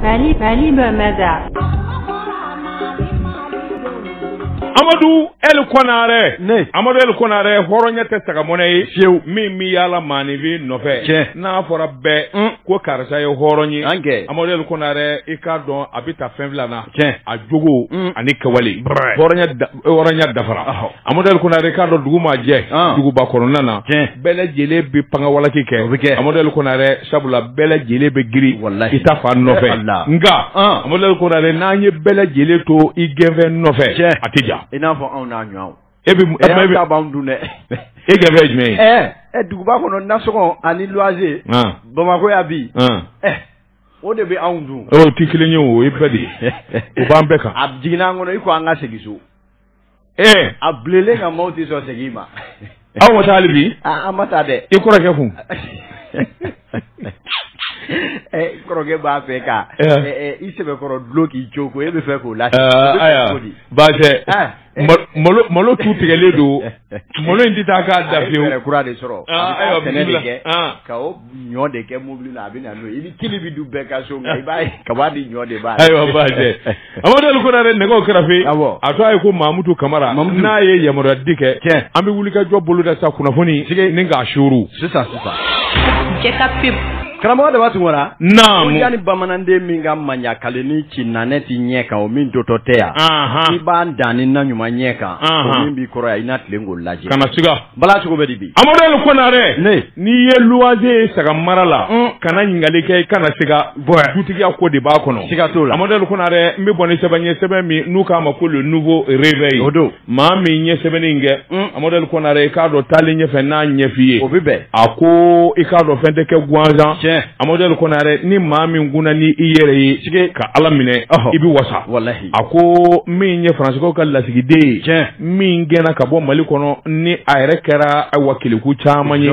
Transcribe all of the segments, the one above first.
Mali Mali bɛ mɛda amadu eli kɔnare ne amadu eli kɔnare hɔrɔnya tɛ saga mɔnɛ ye fiyewu min bɛ yala maaninfin nɔfɛ cɛ n'a fɔra bɛɛ mm. ko karisa ye hɔrɔn ye an kɛ amadu eli kɔnare i k'a dɔn a bɛ ta fɛn fila na cɛ a jogo mm. ani kɛwale hɔrɔnya da Hɔrɔnya dafara amadu eli kɔnare i k'a dɔn dugu ma jɛ duguba kɔnɔna na bɛɛ lajɛlen bɛ pan ka walaki kɛ o bɛ kɛ amadu eli kɔnare sabula bɛɛ lajɛlen bɛ girin wala i ta fa nɔfɛ la nka amadu eli kɔnare n'an ye bɛɛ lajɛlen to i gɛnfɛn nɔfɛ cɛ a tɛ ja i n'a fɔ anw n'a ɲɔgɔn e bɛ dun dɛ e gɛnfɛn jumɛn duguba kɔnɔ nasɔngɔ ani luwanse bamakɔ yan bi o de bɛ anw dun o t'i kelen ye o ye bɛɛ de ye o b'an bɛɛ kan a jiginna an kɔnɔ i ko an ka segin so ee a bilenlen nka maaw tɛ sɔn segin ma aw ma taa hali bi an ma taa dɛ i kɔrɔkɛ kun kɔrɔkɛ b'a fɛ ka i sɛbɛkɔrɔ dulon k'i jo ko e bɛ fɛ k'o la baasi malo tun tigɛlen don malo in tɛ taa k'a da fiyewu kura de sɔrɔ a bɛ de kɛ ka ɲɔ de kɛ mobili la a bɛ na n'o ye i ni kili bɛ du bɛɛ ka so nka i b'a ye kaba ni ɲɔ de b'a ayiwa b'a jɛ Amadu Kɔnare nɛgɛw kɛrɛfɛ a tɔgɔ ye ko Mamutu Kamara n'a ye yamaruya di kɛ tiɲɛ an bɛ wulikajɔ boloda sa kunnafoni nin ka suru sisan sisan. Karamɔgɔ Daba Tunkara na ni bamananden min ka manɲakale ni ci na ne t'i ɲɛ kan o min jɔtɔ tɛ yan i b'an dan ni na ɲuman ɲɛ kan min b'i kɔrɔ yan i na tilen k'o lajɛ kana siga bala cogo bɛ de bi amadu eli kɔnare n'i ye luwanse ye saga mara la kana ɲininkali kɛ i kana siga dutigiya ko de b'a kɔnɔ siga t'o la amadu eli kɔnare n bɛ bɔ ni sɛbɛn ye sɛbɛn min n'u k'a ma ko le nouveau réveil o don maa min ye sɛbɛnni in kɛ mm. amadu kɔnare i k'a dɔn taalen ɲɛfɛ n n'a ɲɛf'i ye o bɛ bɛn a ko i k'a dɔn fɛn tɛ kɛ gansan tiɲɛ amadu kɔnare ni maa min kunna ni i yɛrɛ ye sike ka ala minɛ i bɛ wasa walahi a ko min ye faransikaw ka lasigiden ye tiɲɛ min gɛnna ka bɔ mali kɔnɔ ni a yɛrɛ kɛra awa kɛlɛ kun caman ye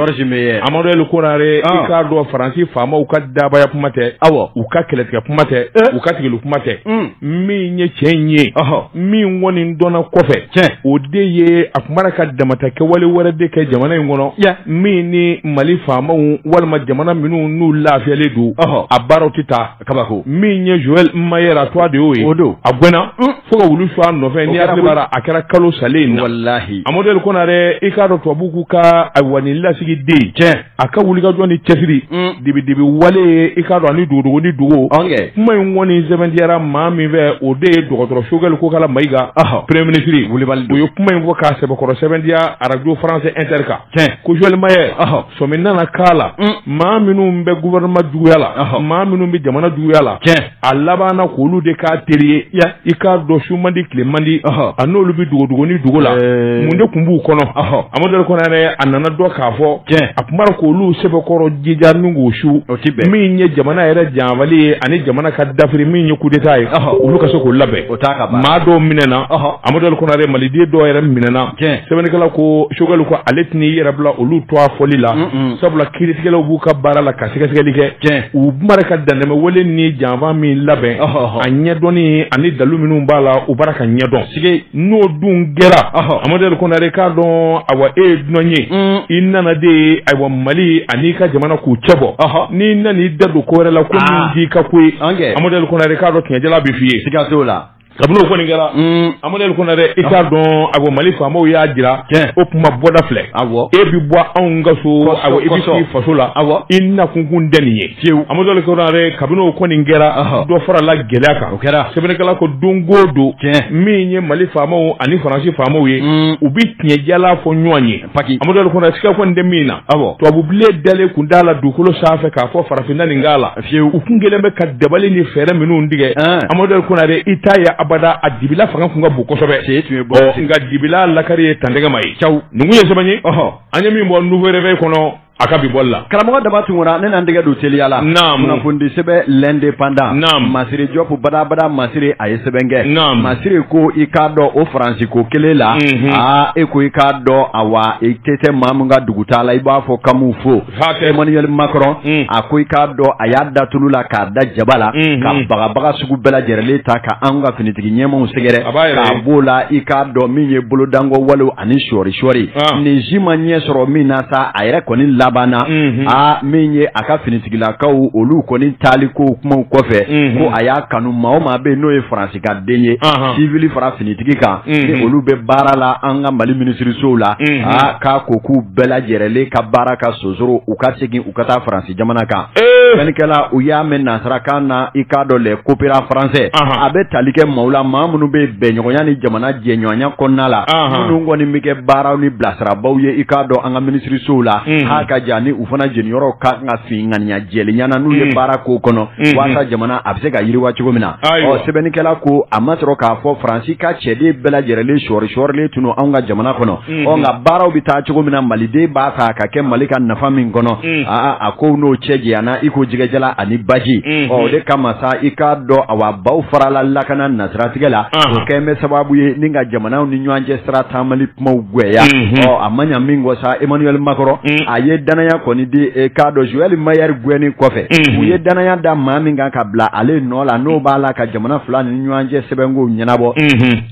amadu kɔnare ah. i k'a dɔn faransi faamaw ka dabaya kuma tɛ awa u ka kɛlɛtigɛ kuma tɛ eh. u ka tigɛli kuma tɛ mm. min ye cɛ in ye min kɔni dɔnna kɔfɛ o de ye a tun b'a ka damata kɛwale wɛrɛ de kɛ jamana in kɔnɔ min ni mali faamaw walima jamana minnu n'u lafiyalen don a baara tɛ taa kabako min ye joël meyer a tɔgɔ de y'o ye o don a gɛnna mm. fo ka wulu su a nɔfɛ n'i hakili b'a a kɛra kalo salen in na walahi amadu eli kɔnare i k'a dɔn tubabuw k'u ka ayiwa nin lasigiden cɛ a ka wulikajɔ ni cɛsiri dibidibi wale ye i k'a dɔn ani dogodogo ni dogo kuma in kɔni sɛbɛntiyara maa min fɛ o de ye dɔgɔtɔrɔ sogɛli kokala mayiga premier minisiri kulibali o ye kuma in fɔ k'a sɛbɛkɔrɔ sɛbɛntiya arajo France inter kan tiɲɛ ko Joël Meyer sɔmi nana k'a la maa minnu bɛ gouvernement juguya la maa minnu bɛ jamana juguya la tiɲɛ a labanna k'olu de k'a teri ye i k'a dɔn su mandi tile mandi a n'olu bɛ dogodogo ni dogo la mun de tun b'u kɔnɔ amadu konare a nana dɔn k'a fɔ a tun k' olu sɛbɛkɔrɔ jija ni ko su min ye jamana yɛrɛ janfali ye ani jamana ka dafiri min ye coup d'état ye olu ka se k'u labɛn o maa dɔw minɛna amadu konare maliden dɔw yɛrɛ minɛna sɛbɛnnikɛla ko sogɛli ko ale tɛn'i yɛrɛ bila olu tɔgɔ fɔli la sabula kiiritigɛlaw b'u ka baara la ka sɛgɛsɛgɛli kɛ u bara ka dantɛmɛ wale ni janfa min labɛn a ɲɛdɔn ani dalu minnu b'a la u bara ka ɲɛdɔn sigi n'o dun kɛra amadu konare i k'a dɔn ayiwa e ye dunan ye mm. i nana de ye ayiwa mali an'i ka jamana k'u cɛ bɔ n'i nana i da don ko wɛrɛ la ko ah. ka ko amadu konare i k'a dɔn tiɲɛjala bɛ f'i ye la kabini o kɔni kɛra mm. amadu konare i k'a dɔn a ko mali faamaw y'a jira o kuma bɔda filɛ e bɛ bɔ anw ka so a i bɛ sigi faso la i nakun tun tɛ nin ye fiyewu amadu konare kabini o kɔni kɛra dɔ fara la gɛlɛya kan o kɛra sɛbɛnnikɛla ko don o don min ye mali faamaw ani faransi faamaw ye mm. u bɛ tiɲɛjala fɔ ɲɔgɔn ye paki amadu konare siga kɔni tɛ min na tubabubilen dalen tun t'a la dugukolo sanfɛ k'a fɔ farafin na nin k'a la Fi u tun kɛlen bɛ ka dabali ni fɛɛrɛ minnu tigɛ amadu konare i t'a ye abada a dibila fanga tun ka bon kosɛbɛ nka dibila lakari ye tantɛgɛma ye ca nin tun ye sɛbɛn ye an ye min bɔ Nouveau Réveil kɔnɔ a ka bi bɔli la karamɔgɔ daba tunkara ne na n tɛgɛ don teliya la kunnafoni sɛbɛn L'Indépendant masire jɔp barabara masire a ye sɛbɛn kɛ masire ko i k'a dɔn o faransi ko kelen la aa e ko i k'a dɔn ayiwa i tɛgɛ tɛ maa min ka dugutaa la i b'a fɔ k'an b'u fo Emmanuel Macron mm. a ko i k'a dɔn a y'a da tulu la k'a da jaba la mm-hmm. ka bagabaga sugu bɛɛ lajɛlen ta ka anw ka finitigi ɲɛmaaw sɛgɛrɛ k'a b'o la i k'a dɔn min ye bolodanko walew ani sɔɔri sɔɔri ah. nin si ma ɲɛ sɔrɔ min na sa a yɛrɛ kɔni labanna mm-hmm. a min ye a ka finitigilakaw olu kɔni taali ko kumaw kɔfɛ mm-hmm. ko a y'a kanu maa o maa bɛ yen n'o ye France den ye civil fara finitigi kan n'olu bɛ baara la an ka Mali minisirisow la aa k'a ko k'u bɛɛ lajɛrɛlen ka baara ka sonsoro u ka segin u ka taa France jamana kan fɛnkɛla u y'a mɛn nansarakan na i k'a dɔn les coopérants français a bɛ tali kɛ maaw la maa minnu bɛ bɛnɲɔgɔnya ni jamana jɛɲɔgɔnya kɔnɔna la minnu kɔni bɛ kɛ baaraw ni bilasirabaaw ye i k'a dɔn an ka minisirisow la k'a ka jan ni u fana jeniyɔrɔw ka kan ka fin ŋaniya jɛlenya na n'o ye baarako kɔnɔ walasa jamana a bɛ se ka yiriwa cogo min na Ayiwa sɛbɛnnikɛla ko a ma sɔrɔ k'a fɔ faransi ka cɛden bɛɛ lajɛrɛlen sɔɔri sɔɔrilen tun anw ka jamana kɔnɔ ɔ nka baaraw bɛ taa cogo min na maliden b'a fɛ ka kɛ mali ka nafa min kɔnɔ aa a ko n'o cɛ janyana iko jɛgɛ jalan ani baji o de kama sa i k'a dɔn a baw farala lakana nasiratigɛ la o kɛlen sababu ye ni ka jamanaw ni ɲɔgɔn cɛ sira tan kuma gɛlɛya a ma ɲa min ko sa emmanuel makɔrɔn a ye dannaya kɔni da i k'a dɔn zoɛli meyɛri gɛni kɔfɛ u ye dannaya da maa min kan ka bila ale nɔ la n'o b'a la ka jamana fila ni ɲɔgɔn cɛ sɛbɛnko ɲɛnabɔ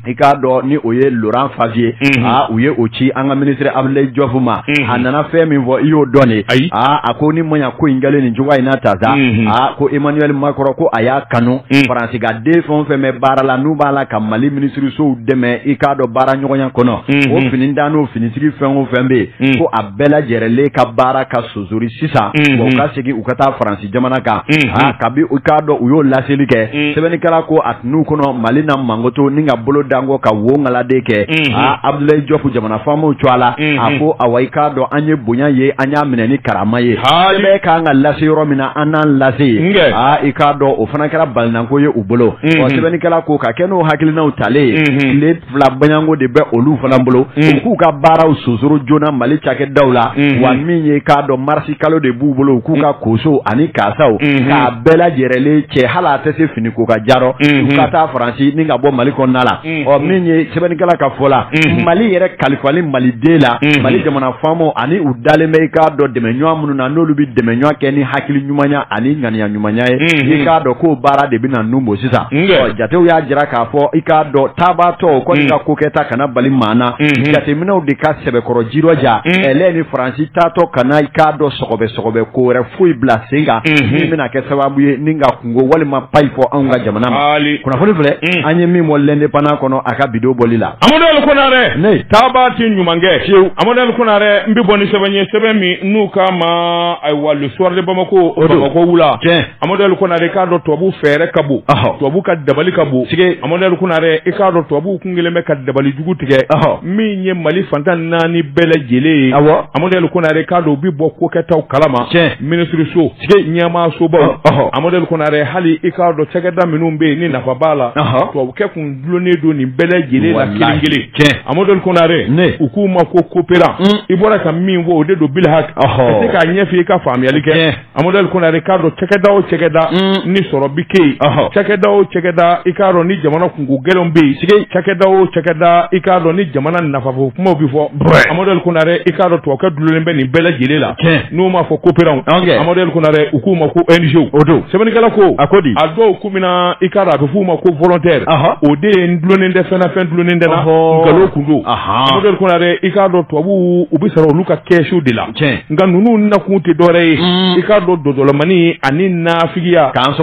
i k'a dɔn ni o ye loran faviye aa u ye o ci an ka minisiri abudulayi jɔpu ma a nana fɛn min fɔ i y'o dɔn de ayi aa a ko ni ma ko in kɛlen nin cogoya in na ta sa aa ko emmanuel makɔrɔn ko a y'a kanu faransi ka den fɛn o fɛn bɛ baara la n'u b'a la ka mali minisirisow dɛmɛ i k'a dɔn baara ɲɔgɔnya kɔnɔ mhm. o finintan n'o finitigi fɛn o fɛn bɛ yen mhm. ko a bɛɛ lajɛrɛlen ka baara ka sonsori sisan mhm. wa u ka segin u ka taa faransi jamana kan aa kabi i k'a dɔn u y'o laseli kɛ sɛbɛnnikɛla ko a tun u kɔnɔ mali na makoto ni ka bolo da n kɔ ka wo ŋaladen kɛ aa abudulayi jɔpu jamana faamaw tɔgɔ la a ko awa i k'a dɔn an ye bonya ye an y'a minɛ ni karama ye sɛbɛn ka kan ka lase yɔrɔ min na an n'a lase yen aa i k'a dɔn o fana kɛra balinanko ye u bolo ɔ sɛbɛnnikɛla ko ka kɛ n'o hakilinaw talen ye tile fila baɲanko de bɛ olu fana bolo u k'u ka baaraw sonsoro joona mali cakɛdaw la wa min ye i k'a dɔn marisi kalo de b'u bolo u k'u ka kosow ani kaasaw k'a bɛɛ lajɛrɛlen cɛ hali a tɛ se fini ko k'a ja rɔ u ka taa faransi ni ka bɔ mali kɔnɔna la ɔ min ye sɛbɛnnikɛla ka fɔ la mali yɛrɛ kalifali maliden la mali jamana faamaw ani u dalen bɛ i k'a dɔn dɛmɛɲɔgɔn minnu na n'olu bɛ dɛmɛ ɲɔgɔn kɛ ni hakili ɲumanya ani ŋaniya ɲumanya ye i k'a dɔn k'o baara de bɛna nun bɔ sisan ɔ jatew y'a jira k'a fɔ i k'a dɔn taabaatɔ o kɔni ka ko kɛta kana bali maa na jateminɛw de ka sɛbɛkɔrɔ jirɔja ɛlɛ ni faransi taatɔ kana i k'a dɔn sɔgɔbɛ sɔgɔbɛ ko wɛrɛ foyi bila sen kan min bɛna kɛ sababu ye ni ka ko walima payi fɔ anw ka jamana ma kunnafoni filɛ an ye min bɔ l'indépendant kɔnɔ a ka bi don bɔli la amadu konare ne taaba ti ɲumankɛ fiyewu amadu konare n bɛ bɔ ni sɛbɛn ye sɛbɛn min n'u k'a ma ayiwa le soir de bamako o bamako wula amadu konare i k'a dɔn tubabu fɛɛrɛ ka bon tubabu ka dabali ka bon sike amadu konare i k'a dɔn tubabu kun kelen bɛ ka dabali jugu tigɛ min ye mali fan tan ni naani bɛɛ lajɛlen ye amadu konare i k'a dɔn u bɛ bɔ kokɛtaw kalama minisiriso tile ɲɛmaasobaw amadu konare hali i k'a dɔn cakɛda minnu bɛ yen ni nafa b'a la tubabukɛ kun dulonnen don nin bɛɛ lajɛlen la kelen kelen amadu konare u k'u ma ko coopérant mm. i bɔra ka min fɔ o de don bilhak ka se k'a ɲɛf'i ka faamuyali kɛ amadu konare i k'a dɔn cakɛda o cakɛda mm. ni sɔrɔ bɛ kɛ yen cakɛda o cakɛda i k'a dɔn ni jamana kunko gɛlɛnw bɛ yen cakɛda o cakɛda i k'a dɔn ni jamana nafafɔ kumaw bɛ fɔ amadu konare i k'a dɔn tubabukɛ dulonnen bɛ nin bɛɛ lajɛlen la n'u m'a fɔ coopérant amadu konare u k'u ma ko ONG don sɛbɛnnikɛla ko a ko di a dɔw ku min na i ka a bɛ f'u ma ko volontaire o de ye n dulonnen tɛ fɛn o fɛn dulonnen tɛ n na nkalon kun don amadu konare i k'a dɔn tubabu u bɛ sara olu ka kɛsu de la nka ninnu nakun tɛ dɔwɛrɛ ye mm. i k'a dɔn donsolamani ani nafigiya k'an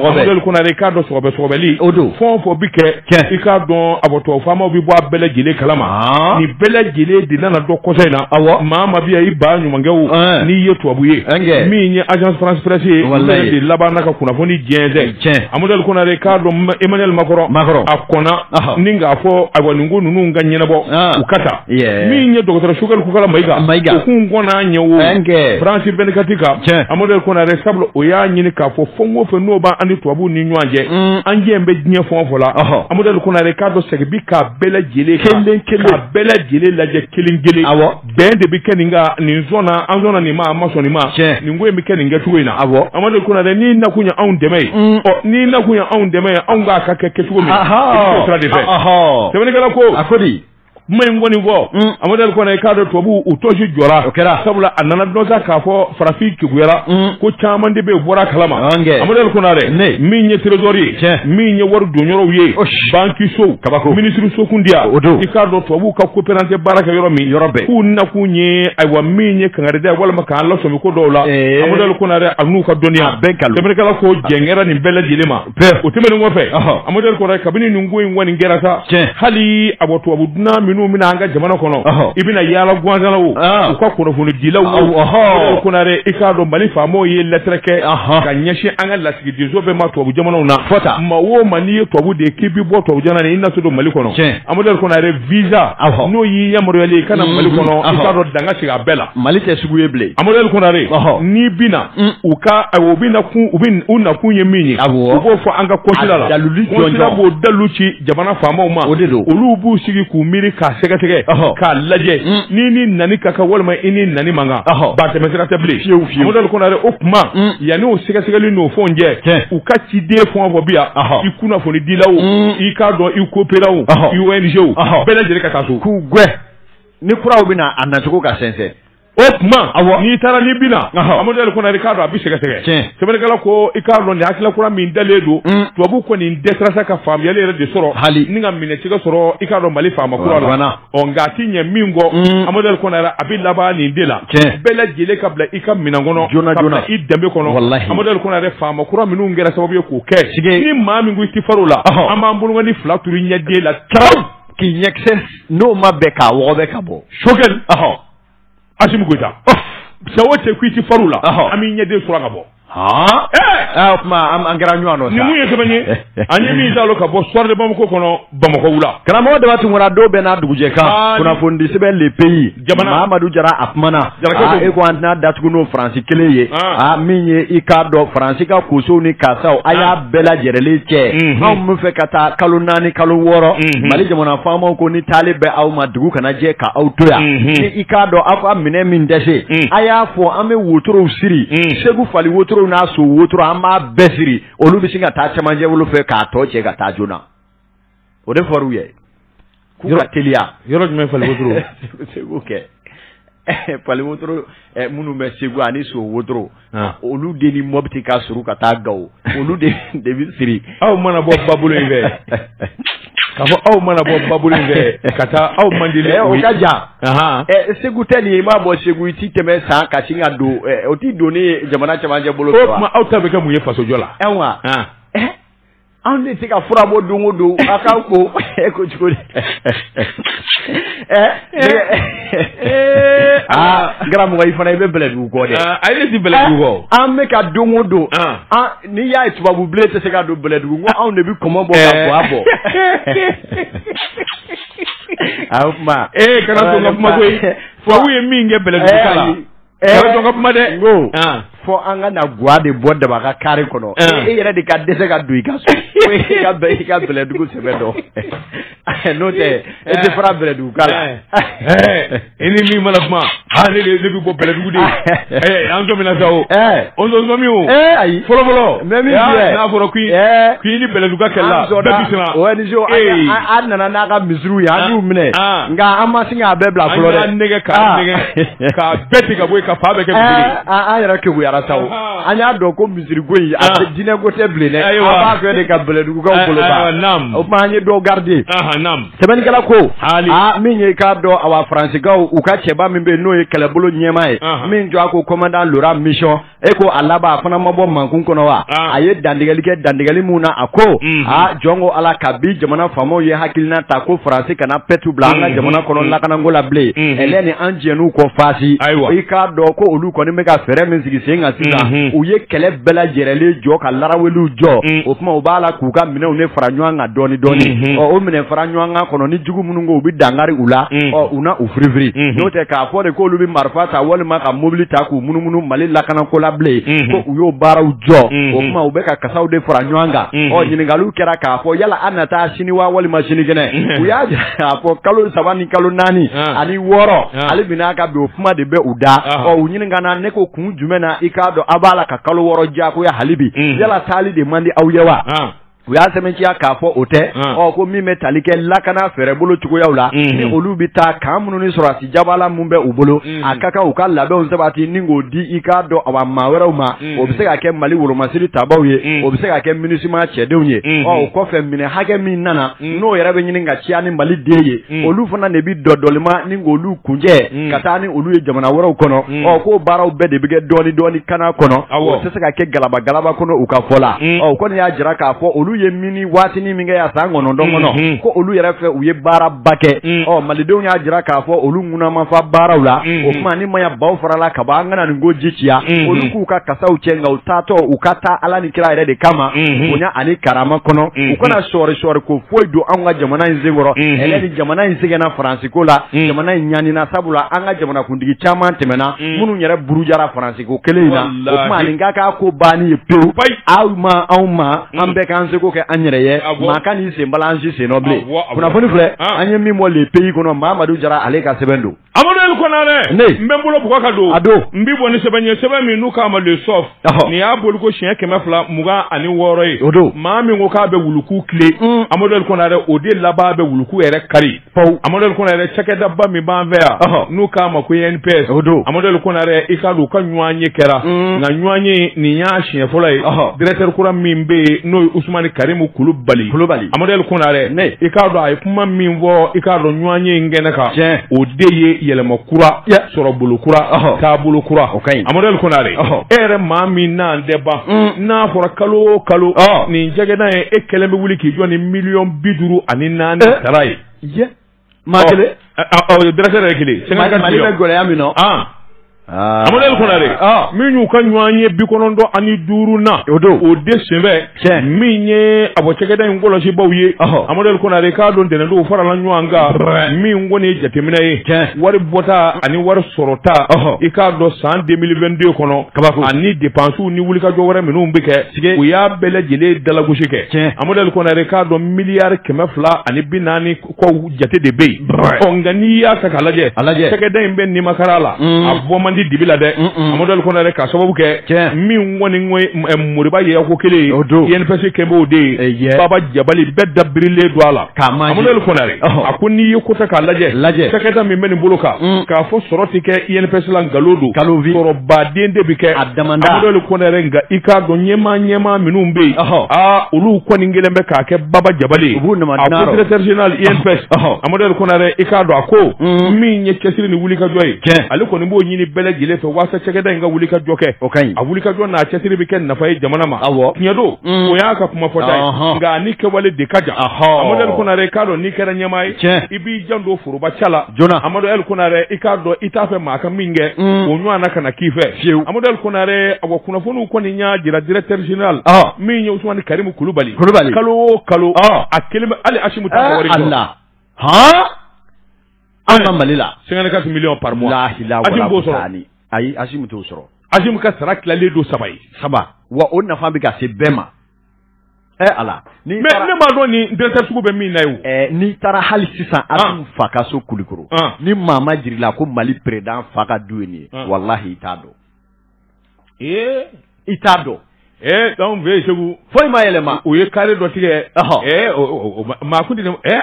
kun i k'a dɔn sɔgɔbɛsɔgɔbɛli fɔ fɔ bɛ kɛ i k'a dɔn abɔtɔ faamaw bɛ bɔ a bɛɛ lajɛlen kalama ah. ni bɛɛ lajɛlen de nana dɔn kɔsa in na awɔ maa o maa bɛ yan i ba ɲumankɛ o eh. n'i ye tubabu ye min ye agence france presse ye ale de labanna ka kunnafoni jɛnsɛn tiɲɛ amadu konare k'a dɔn emmanuel macron a kɔnna ni k'a fɔ ayiwa nin ko ninnu ka ɲɛnabɔ ah. u ka taa min ye dɔgɔtɔrɔ choguel kokalla maiga kun kɔnɔna ɲɛ wo ɛnkɛ france vingt-quatre kan tiɲɛ amadu konare sabula o y'a ɲini k'a fɔ fɛn o fɛn n'o b'an ni tubabuw ni ɲɔgɔn cɛ mm. an jɛ bɛ diɲɛ fɛn o fɛn la amadu konare k'a dɔn sɔgɔbɛ k'a bɛɛ lajɛlen kelen kelen k'a bɛɛ lajɛlen lajɛ kelen kelen awɔ bɛn de bɛ kɛ nin kan an sɔnna nin ma an ma sɔn nin ma tiɲɛ nin ko in bɛ kɛ nin kɛcogo in na awɔ amadu konare n'i nakun ye anw dɛmɛ ye mm. ɔ n'i nakun ye anw dɛmɛ ye anw k'a ka kɛ kɛcogo min i bɛ sira de fɛ sɛbɛnnikɛla ko a ko di kuma in kɔni fɔ mm. amadu konare i k'a dɔn tubabu u tɔnsi jɔra o kɛra sabula a nana dɔn sa k'a fɔ farafin kegunyara mm. ko caman de bɛ yen bɔra kalama amadu konare min ye trésor ye tiɲɛ min ye wari donyɔrɔw ye banki sow kabako minisiri sokundiya o don i k'a dɔn tubabu ka coopérant baara kɛ yɔrɔ min yɔrɔ bɛɛ k'u nakun ye ayiwa min ye kangarida ye walima k'an lasɔmi ko dɔw la amadu konare an'u ka dɔnniya bɛɛ nkalon jamanakalakaw jɛngɛra nin bɛɛ lajɛlen ma Bɛɛ o tɛmɛnen kɔfɛ, ɔhɔ, Amadu Konare kabini nin ko in kɔni kɛra sa, tiɲɛ, hali a bɔ tubabu dunan minnu bɛ na an ka jamana kɔnɔ, ɔhɔ, i bɛ na yaala gwansan na o, an, u ka kunnafonidilaw o, awɔ, ɔhɔ, Konare i k'a dɔn Mali faamaw ye lɛtɛrɛ kɛ, anhan, ka ɲɛsin an ka lasigidenso bɛɛ ma tubabu jamanaw na, fɔ tan, maa o maa n'i ye tubabu de ye k'i bɛ bɔ tubabu jamana na i na se don Mali kɔnɔ, tiɲɛ, Amadu Konare visa, awɔ, n'o y'i yamaruyalen ye i ka na Mali kɔnɔ, i k'a dɔn dan ka sigi a bɛɛ la, Mali tɛ sugu ye bilen, Amadu Konare, ɔhɔ, n'i bɛ na u ka u bɛ na kun u bɛ u nakun ye min ye u b'o fɔ an ka consulat la consulat b'o dalu ci jamana faamaw ma o de don olu b'u sigi k'u miiri k'a sɛgɛsɛgɛ k'a lajɛ ni i nani ka kan walima n'i nani man kan ba tɛmɛsira tɛ bilen fiyewu fiyewu amadu konare o tuma yanni o sɛgɛsɛgɛli n'o fɛnw cɛ u ka ciden fɛn o fɛn bɛ yan i kunnafoni dilaw i k'a dɔn i coopérantw i ONG bɛɛ lajɛlen ka taa so k'u gɛn ni kuraw bɛ na a nacogo ka sɛnsɛn O tuma n'i taara n'i bɛ na amadu konare i k'a dɔn a bɛ sɛgɛsɛgɛ sɛbɛnnikɛla ko i k'a dɔn nin hakilila kura min dalen don mm. tubabu kɔni dɛsɛra sa ka faamuyali yɛrɛ de sɔrɔ hali ni k'a minɛcogo sɔrɔ i k'a dɔn mali faama kuraw la ɔ nka a tɛ ɲɛ min kɔ mm. amadu konare a bɛ laban nin de la bɛɛ lajɛlen ka bila i ka minɛn kɔnɔ joona joona i danbe kɔnɔ amadu konare faama kura minnu kɛra sababu ye k'o kɛ ni maa min ko i tɛ far'o la an b'an bolonin fila turu ɲɛden la tarawele k'i ɲɛkisɛ n'o ma bɛn k'a wɔgɔbɛ ka bɔ sokɛli Asimi Goyita cɛ o cɛ k'i tɛ fariw la an b'i ɲɛden sɔrɔ ka bɔ. o tuma an kɛra ɲɔgɔn nɔ sa. Nin mun ye sɛbɛn ye an ye min dalo ka bɔ Soir de Bamako kɔnɔ Bamako wula. Karamɔgɔ Daba Tunkara don bɛɛ n'a dugujɛ kan kunnafonidi sɛbɛn le pays Mamadu Jara a kuma na e ko an tɛna datugu n'o faransi kelen ye min ye i k'a dɔn faransi ka kosow ni kaasaw a y'a bɛɛ lajɛrɛlen cɛ anw b'a fɛ ka taa kalo naani kalo wɔɔrɔ Mali jamana faamaw ko ni taali bɛ aw ma dugu ka Jɛ ka aw to yan i k'a dɔn aw ka minɛn min dɛsɛ a y'a fɔ an bɛ wotorow siri segu fali wotorow n'a so wotoro an b'a bɛɛ siri olu bɛ sin ka taa cɛmancɛ bolo fɛ k'a tɔ cɛ ka taa joona o de fɔr'u ye k'u ka teliya yɔrɔ jumɛn fali wotoro Fali wotoro minnu bɛ Segu ani so wotoro olu de ni Mɔpti ka surun ka taa Gawo olu de bɛ siri aw mana bɔ babolo in fɛ ka fɔ aw mana bɔ babolo in fɛ ka taa aw man di dɛ o ka jan Segu tɛ nin ye i maa bɔ Segu i t'i tɛmɛ San ka sin ka don o t'i don ni jamana cɛmancɛ bolo o tuma aw ta bɛ kɛ mun ye fasojɔ la Anw de tɛ ka fura bɔ don o don a k'an ko e ko cogo di karamɔgɔ i fana i bɛ bɛlɛdugu kɔ dɛ ayi ne tɛ bɛlɛdugu kɔ an bɛ ka don o don n'i y'a ye tubabu bilen tɛ se ka don bɛlɛdugu ko anw de bɛ kɔmɔ bɔ ka bɔ a bɔ a o tuma ee kana to n ka kuma koyi tubabu ye min kɛ bɛlɛdugu la kuma dɛ ko fo an ka na ga de bɔ daba ka kari kɔnɔ e yɛrɛ de ka dɛsɛse ka don i ka so i ka bɛlɛdugu sɛbɛn dɔn n'o tɛ e tɛ fara bɛlɛdugukaw la i ni min mana kuma ha ne de bɛ bɔ bɛlɛdugu de an to sa o o nson min o ayi fɔlɔfɔlɔ mɛ min n'a fɔra k'i ni bɛlɛdugukaw kɛlɛla bɛɛ bi o an nana n'a ka misiriw ye an y'u minɛ nka an ma sin k'a bɛɛ bila fɔlɔ dɛ an nɛgɛ k'a nɛgɛ Ka bɛɛ tigɛ ka bɔ yen, k'a fan bɛɛ kɛ misiri ye. Aa an yɛrɛ kegunyara sa o. Anhan! An y'a dɔn ko misiri ko in, a tɛ diinɛ ko tɛ bilen dɛ. Ayiwa! An b'a fɛ de ka bɛlɛdugukaw bolo ban. Aa naam! O tuma an ye dɔ garder. Anhan naam! Sɛbɛnnikɛla ko. Haali! Aa min ye i k'a dɔn awa Faransikaw u ka cɛba min bɛ yen n'o ye kɛlɛbolo ɲɛmaa ye. Anhan! Min jɔ a ko commandant Laurent Michon e ko a laban a fana ma bɔ mankun kɔnɔ wa a ye dantigɛli kɛ dantigɛli min na a ko aa jɔn ko ala kabi jamana faamaw ye hakilina ta ko faransi kana pɛtu bila an ka jamana kɔnɔ lakananko la bilen ale ni a jɛɲɔgɔn fan si i k'a dɔn ko olu kɔni bɛ ka fɛɛrɛ min sigi sen kan sisan u ye kɛlɛ bɛɛ lajɛrɛlen jɔ ka laraweliw jɔ o tuma u b'a la k'u ka minɛnw de fara ɲɔgɔn kan dɔɔni dɔɔni o minɛn fara ɲɔgɔn kan kɔnɔ dugu minnu ko u bɛ dankari u la mm. ɔ u na u firifiri mm-hmm. n'o tɛ k'a fɔ de k'olu bɛ marifa ta walima ka mobili ta k'u munumunu mali lakanako la bilen mm-hmm. ko u y'o baaraw jɔ mm-hmm. o tuma u bɛ ka kasaw de fara ɲɔgɔn kan ɔ ɲininkaliw kɛra k'a fɔ yala aw na taa sini wa walima sinikɛnɛ u y'a jira k'a fɔ kalo saba ni kalo naani ah. ani wɔɔrɔ ah. hali bi u ka bɔ kuma de bɛ u da ah. ɔ u ɲininkana ne ko kun jumɛn na i k'a dɔn aw b'a la ka kalo wɔɔrɔ diyagoya halibi yala taali de man di aw ye wa. u y'a sɛmɛnciya k'a fɔ o tɛ ɔ ko min bɛ tali kɛ lakana fɛɛrɛbolo cogoyaw la ni olu bɛ taa kan minnu ni sɔrɔdasi jabala minnu bɛ u bolo a ka kan u ka labɛnw sabati ni k'o di i k'a dɔn a maa wɛrɛw ma o bɛ se ka kɛ mali wolomasiri tabaaw ye o bɛ se ka kɛ minisima cɛdenw ye ɔ o kɔfɛ minɛn hakɛ min nana n'o yɛrɛ bɛ ɲini ka ciya ni mali de ye olu fana de bɛ dɔdɔlima ni k'olu kuncɛ ka taa ni olu ye jamana wɛrɛw kɔnɔ ɔ ko baaraw bɛɛ de bɛ kɛ dɔɔni dɔɔni kana kɔnɔ o tɛ se ka kɛ galaba galaba kɔnɔ u ka fɔ la ɔ u kɔni y'a jira k'a fɔ olu ye mini waatinin min kɛ yan san kɔnɔntɔn kɔnɔ ko olu yɛrɛ fɛ u ye baaraba kɛ ɔ malidenw y'a jira k'a fɔ olu ŋuna ma fa baaraw la o tuma ni maya baw farala ka bɔ an kana nin ko ji ciya olu k'u ka kasaw cɛ nka u taatɔ u ka taa ala ni kira yɛrɛ de kama bonya ani karama kɔnɔ u kana sɔɔri sɔɔri ko foyi don an ka jamana in senkɔrɔ bilen jamana in sɛgɛnna faransi ko la jamana in ɲanina sabula an ka jamanakuntigi caman tɛmɛna minnu yɛrɛ burujara faransi ko kelen in na nin ka k'a ko ban ye pewu aw ma anw ma an bɛɛ k'an seko kɛ an yɛrɛ ye maa kana sen bala an sennɔ bilen kunnafoni filɛ an ye min bɔ le pays kɔnɔ mamadu jara ale ka sɛbɛn don amaduli konare ne n bɛ bolo bug ka don a don n bɛ bɔ ni sɛbɛn ye sɛbɛn min n'u k'a ma le soft nin y'a bɔli ko siɲɛ kɛmɛ fila mugan ani wɔɔrɔ ye o don maa min ko k'a bɛ wuluku tilen amaduli konare o de laban bɛ wuluku yɛrɛ kari Pewu Amaduli Konare cakɛdaba min b'an fɛ yan, ɔhɔ, n'u k'a ma ko INPS, o don, Amaduli Konare i k'a dɔn u ka ɲɔgɔnye kɛra, un, nka ɲɔgɔnye nin y'a siɲɛ fɔlɔ ye, ɔhɔ, directeur kura min bɛ yen n'o ye Usumani Karimu Kulubali, Kulubali, Amaduli Konare, ne, i k'a dɔn a ye kuma min fɔ i k'a dɔn ɲɔgɔnye in kɛnɛ kan, tiɲɛ, o de ye yɛlɛma kura, ya, sɔrɔ bolo kura, ɔhɔ, taabolo kura, o ka ɲi, Amaduli Konare, ɔhɔ, e yɛrɛ maa min n'an tɛ ban, un, n'a fɔra kalo o kalo, ɔɔ, nin cakɛda in e kelen bɛ wuli k'i jɔ ni miliyɔn bi duuru ani naani sara ye maa kelen dɔrɔn kelen gɛlɛya amaduli konare nin y'u ka ɲɔgɔnye bi kɔnɔntɔn ani duurunan o don o de senfɛ min ye a bɔ cakɛda in kɔlɔsibaw ye amaduli konare k'a dɔn ntɛnɛndon u farala ɲɔgɔn kan min kɔni ye jateminɛ ye wari bɔta ani wari sɔrɔta i k'a dɔn san deux mille vingt-deux kɔnɔ kaba ani depansiw ni wulikajɔ wɛrɛ minnu bɛ kɛ tiɲɛ u y'a bɛɛ lajɛlen dalagosi kɛ tiɲɛ amaduli konare k'a dɔn miliyari kɛmɛ fila ani bi naani kɔ jate de bɛ yen ɔ nka n'i y'a ta k'a lajɛ a lajɛ cakɛda in bɛ nimakaran la mm. a bɔ man di dibi la dɛ amaduli konare k'a sababu kɛ tiɲɛ min kɔni moriba ye ko kelen ye o don INPS kɛ b'o de ye baba jabali bɛɛ dabirilen don a la K'a ma Amadu Eli Konare a ko n'i ye ko ta k'a lajɛ lajɛ cakɛda min bɛ nin bolo kan k'a fɔ sɔrɔ tɛ kɛ INPS la nkalon don sɔrɔba de bɛ kɛ a da Amadu Eli Konare nka i k'a dɔn ɲɛmaa ɲɛmaa minnu bɛ yen aa olu kɔni kelen bɛ k'a kɛ baba jabali directeur général INPS Amadu Eli Konare i k'a dɔn a ko min ye cɛsiri ni wulikajɔ ye cɛ ale kɔni b'o ɲini bɛɛ lajɛlen fɛ walasa cakɛda in ka wulikajɔ kɛ o ka a wulikajɔ n'a cɛsiri bɛ kɛ nafa ye jamana ma aw tiɲɛ don o y'a ka kuma fɔta ye nka a ni kɛwale de ka jan Amadu Eli Konare i k'a dɔn n'i kɛra ɲɛmaa ye i b'i janto foroba ta la joona Amadu Eli Konare i k'a dɔn i t'a fɛ maa ka min kɛ o ɲɔgɔnna kana k'i fɛ fiyewu Amadu Eli Konare a ko kunnafoniw kɔni y'a jira directeur général min ye Usumani Karimu Kulubali kalo o kalo a kelen bɛ hali Asimu t'a ka wari di han. An ka Mali la 54 millions par mois lahi lawale Asim b'o sɔrɔ ani ayi Asim t'o sɔrɔ Asim ka sara tilalen don saba ye saba wa o nafa bɛ ka se bɛɛ ma ɛ eh, ala n'i mais ne m'a dɔn nin directeur sugu bɛ min na ye o eh, n'i taara hali sisan ah. Asim fa ka so Kulikoro ah. ni maa ma jir'i la ko Mali président fa ka du ye nin ye ah. walahi i t'a dɔn Ee i t'a dɔn ee anw fɛ yen segu foyi ma yɛlɛma u ye kare dɔ tigɛ maa kun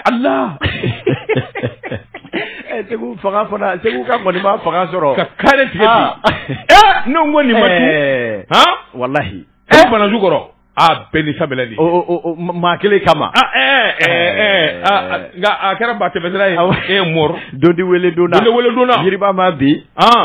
ala segu fanga fana segukaw kɔni ma fanga sɔrɔ ka kare tigɛ ne ko nin walahi e bananju kɔrɔ Aa bɛn ni sabali de maa kelen kama nka a kɛra ba tɛmɛsira ye dodi weele donna weele donna jiri ma bi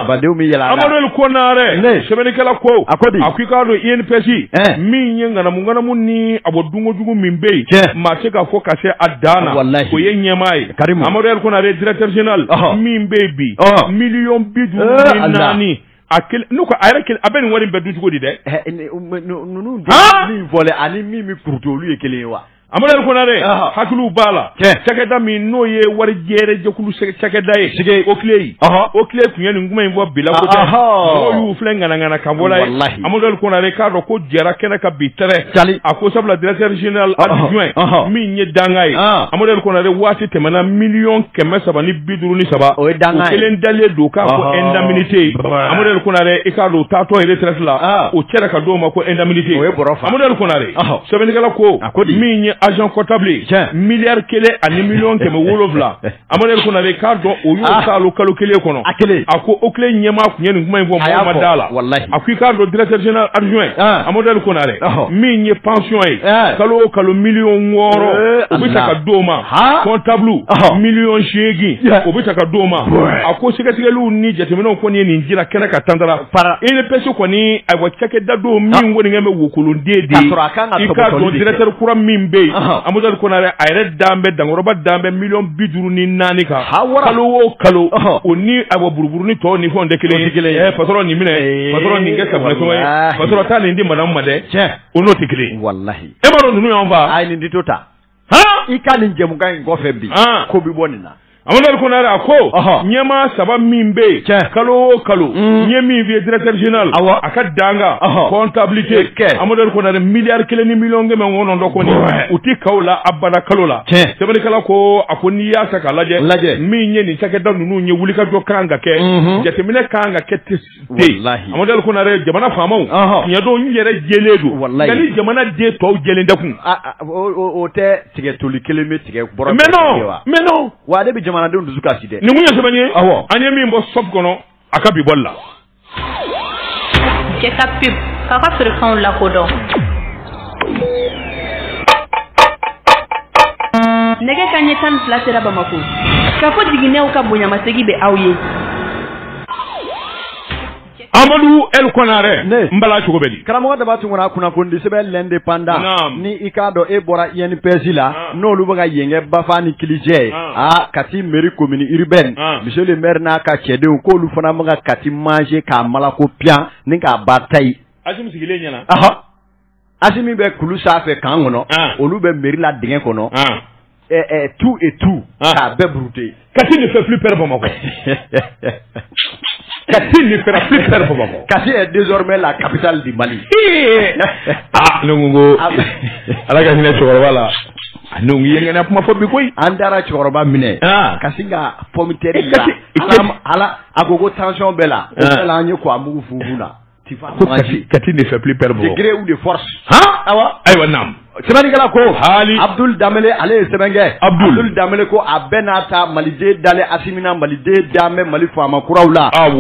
badenw bɛ yɛlɛ amadu konare sɛbɛnnikɛla ko a ko a ko i k'a dɔn INPS min ye ŋanamuŋanamu ni a bɔ dunkojugu min bɛ yen maa tɛ se k'a fɔ ka se a dan na wala o ye ɲɛmaa ye kari amadu konare directeur général min bɛ yen bi miliyɔn bi duuru ni naani A n'u a yɛrɛ kelen a bɛ nin wari bɛɛ dun cogo di dɛ ninnu min fɔ ani min bɛ ptu olu ye kelen ye wa amadu konare hakiliw b'a la cakɛda min n'o ye wari jɛkulu cakɛda ye sɛgɛ OCLEI OCLEI tun ye nin kuma in fɔ bila y'u filɛ ŋana ka bɔ amadu konare k'a dɔn ko jɛra kɛnɛ kan bi tɛmɛ a ko sabula directeur général adjoint min ye danga ye amadu konare waati tɛmɛna miliyɔn kɛmɛ saba duuru ni saba o ye danga kelen dalen don k'a fɔ indemnité amadu konare i k'a dɔn taatɔ ye retraite la ah. o cɛra ka d'o ma ko indemnité o ye bɔrɔ fa amadu konare sɛbɛnnikɛla ko min ye agent comptable miliyari kelen ani miliyɔn kɛmɛ wolonwula amadu konare k'a dɔn o y'o ah. saalo kalo kelen kɔnɔ a kelen a ko OCLEI ɲɛmaa tun ye nin kuma in fɔ mɔgɔ ma d'a la a ko i k'a dɔn directeur général adjoint ah. amadu konare min ye pension ye kalo o kalo miliyɔn wɔɔrɔ eh, o bɛ ta ka d'o ma Ha? comptable Ɔhɔ. million seegin Yeah. o bɛ ta ka d'o ma Ouais. a ko sɛgɛsɛgɛliw ni jateminɛw kɔni ye nin jira kɛnɛ kan tantara Para. INPS kɔni ayiwa cakɛda don min kɔni kɛ bɛ wokolonden de K'a ye sɔrɔ a kan ka i k'a tɔgɔtɔli dɔn de kɛ. directeur kura min bɛ yen Ɔhɔ. Amadou Konare a yɛrɛ dan bɛ dankɔrɔba dan bɛ million bi duuru ni naani kan Ha, wara. kalo o kalo Ɔhɔ. o ni ayiwa buruburu ni tɔw ni fɛnw tɛ kelen O tɛ kelen ye. ye patron nin minɛ Ee, patron nin kɛ safunɛ sɔngɔ ye walahi. patron taa nin di madame ma dɛ Tiɲɛ. o n'o tɛ kelen ye walahi e m'a dɔn ninnu y'an fa a ye nin dito ta h i ka nin jɛmukan in kɔfɛ bi ko bɛ bɔ nin na Amadu Kɔnare a ko ɲɛmaa saba min bɛ yen tiɲɛ kalo o kalo mm. n ye min f'i ye directeur général awɔ a ka danga comptabilité kɛ Amadu Kɔnare miliyari kelen ni miliyɔn kɛmɛ kɔnɔntɔn kɔni u tɛ kaw la abada kalo la tiɲɛ sɛbɛnnikɛla ko a ko n'i y'a ta k'a lajɛ lajɛ min ye nin cakɛda ninnu ye wulikajɔ kan ka kɛ mm-hmm. jateminɛ kan ka kɛ amadu ko jamana faamaw ɲɛdon yɛrɛ jɛlen don ni jamana den tɔw jɛ da kun o tɛ tigɛ toli kelen bɛ tigɛ bɔrɛ mɛ wa ale bɛ jamanadenw dusu kasi dɛ ninnu ye sɛbɛn ye an ye min bɔ sɔ kɔnɔ a ka bi bɔ la k'a ka feerekanw lakodɔn nɛgɛ kanɲɛ tan ni fila sera bamakɔ kafo jiginɛw ka bonyamasegin bɛ aw ye Amadu L Kɔnare ne n bala cogo bɛ di karamɔgɔ daba tunkara a kunnafonidisɛbɛn L'Indépendant ni i k'a dɔn e bɔra INPS la n'olu bɛ ka yen kɛ bafa ni kilijɛ aa kati mairie commune urbaine monsieur le maire n'a ka cɛdenw k'olu fana bɛ ka kati manger k'a malako piyan ni k'a ba ta asimi bɛ kulu sanfɛ camp kɔnɔ olu bɛ mairie la dugu kɔnɔ tout et tout k'a bɛɛ burute kati nin fɛ fi pɛ bamakɔ kati nin fɛ fi pɛ bamakɔ kati ye désormais la capitale du mali aa ne ko ala ka hinɛ cɛkɔrɔba la n yɛlɛgɛnna kuma fɔ bi koyi an taara cɛkɔrɔba minɛ ka sin ka pɔmtɛ a la a ko ko tension b'ale la an ye ko a mugu fugu la kati de gré ou de force ayiwa ayiwa naamu sɛbɛnnikɛla ko hali abudul danbele ale ye sɛbɛn kɛ abudul danbele ko a bɛ n'a ta maliden dalen asimi na maliden da bɛ mali faama kuraw la aw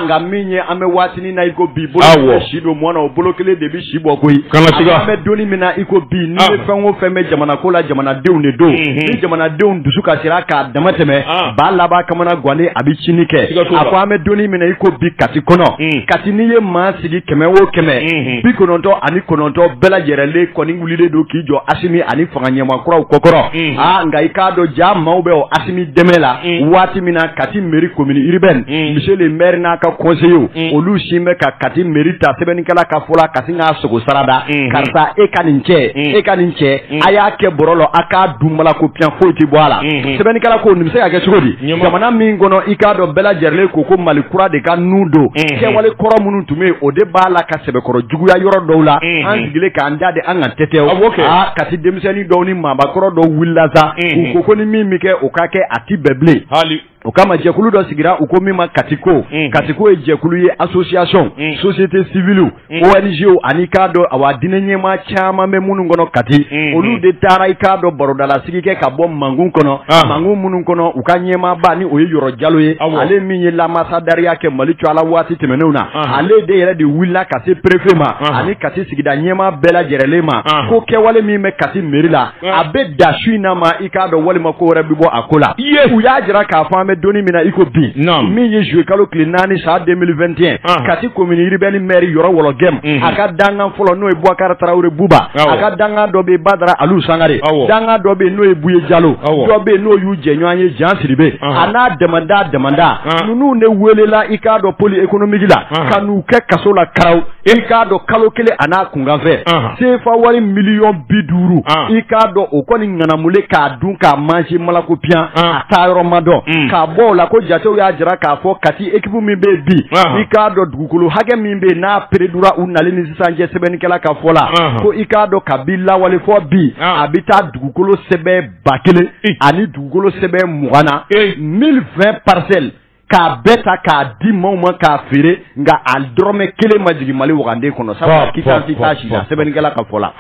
nka min ye an bɛ waati na iko bi bolo si don mɔn o bolo kelen de bɛ si bɔ koyi an bɛ don min na iko bi ni bɛ fɛn o fɛn bɛ jamana ko la jamanadenw de don ni jamanadenw dusu kasira k'a dama tɛmɛ b'a laban kamanagan a bɛ siniinin kɛ a ko an bɛ don min na iko bi kati kɔnɔ kati n'i ye maa sigi kɛmɛ o kɛmɛ bi kɔnɔntɔn ani kɔnɔntɔn bɛɛ lajɛlen kɔni wulilen don k'i jɔ asimi ani fanga ɲɛmaa kuraw kɔkɔrɔ aa nka i k'a dɔn jaa maaw bɛ o asimi dɛmɛ la waati min na kati mairie commune urbaine monsieur le maire n'a ka conseillers olu sin bɛ ka kati mairie ta sɛbɛnnikɛla ka fɔ la kati k'a sogo sara da karisa e ka nin cɛ e ka nin cɛ a y'a kɛ bɔrɔ la a k'a dun bala ko pyan foyi tɛ bɔ a la sɛbɛnnikala ko nin bɛ se ka kɛ cogo di jamana min kɔnɔ i k'a dɔn bɛɛ lajɛrɛlen ko ko mali kura de kanu don kɛwale kɔrɔ minnu tun bɛ o de b'a la ka sɛbɛkɔrɔ juguya yɔrɔ dɔw la an sigilen k'an da de an ka tɛ kɛ kati denmisɛnnin dɔw ni maakɔrɔ dɔw wulila sa ko ko ni min bɛ kɛ o ka kɛ a tɛ bɛn bilen O kama jɛkulu dɔ sigira u ko min ma katiko unhun, katiko ye jɛkulu ye association unhun, société civile unhun, ONG ani k'a dɔn awa diinɛ ɲɛmaa caman bɛ minnu kɔnɔ kati unhun, olu de taara i k'a dɔn barodalasigi kɛ ka bɔ mangun kɔnɔ anhan, mangun minnu kɔnɔ u ka ɲɛmaaba ni o ye yɔrɔ jalo ye awɔ, ale min ye lanbasadɛriya kɛ mali tɔgɔ la waati tɛmɛnenw na anhan, ale de yɛrɛ de wulila ka se préfet ma anhan, ani kati sigida ɲɛmaa bɛɛ lajɛrɛlen ma anhan, ko kɛwale min bɛ kati mairie la a bɛ da su in na ma i k'a dɔn walima ko wɛrɛ bɛ bɔ a ko la u y'a jira k'a fɔ an bɛ don min na i ko bi min ye zuwɛn kalo tile naani san deux mille vingt et un kati commune urbaine maire yɔrɔ wɔlɔgɛm mhm. a ka dankan fɔlɔ n'o ye bubakari tarawele buba a ka dankan dɔ bɛ badara alu sangare dankan dɔ bɛ n'o ye buye jalo dɔ bɛ n'o y'u jɛɲɔgɔn ye jan siribe a n'a damada damada ninnu de welela i k'a dɔn pôle économique la ka n'u kɛ kaso la karaw I k'a dɔn kalo kelen a n'a kunkanfɛ sefa wari miliyɔn bi duuru i k'a dɔn o kɔni ŋanamu k'a dun k'a masi ma ko pyan a taa yɔrɔ ma dɔn mm. k'a bɔ o la ko jatew y'a jira k'a fɔ kati équipe min bɛ bi i k'a dɔn dugukolo hakɛ min bɛ n'a pereurdra u nali ni sisan cɛ sɛbɛnnikɛla ka fɔ la ko i k'a dɔn kabi lawale fɔ bi a bɛ taa dugukolo sɛbɛn ba kelen ani dugukolo sɛbɛn mugan na mille vingt parcelles k'a bɛɛ ta k'a di maaw ma k'a feere nka a dɔrɔmɛ kelen ma jigin mali wagande kɔnɔ sabu kitansi t'a si la sɛbɛnnikɛla ka fɔ la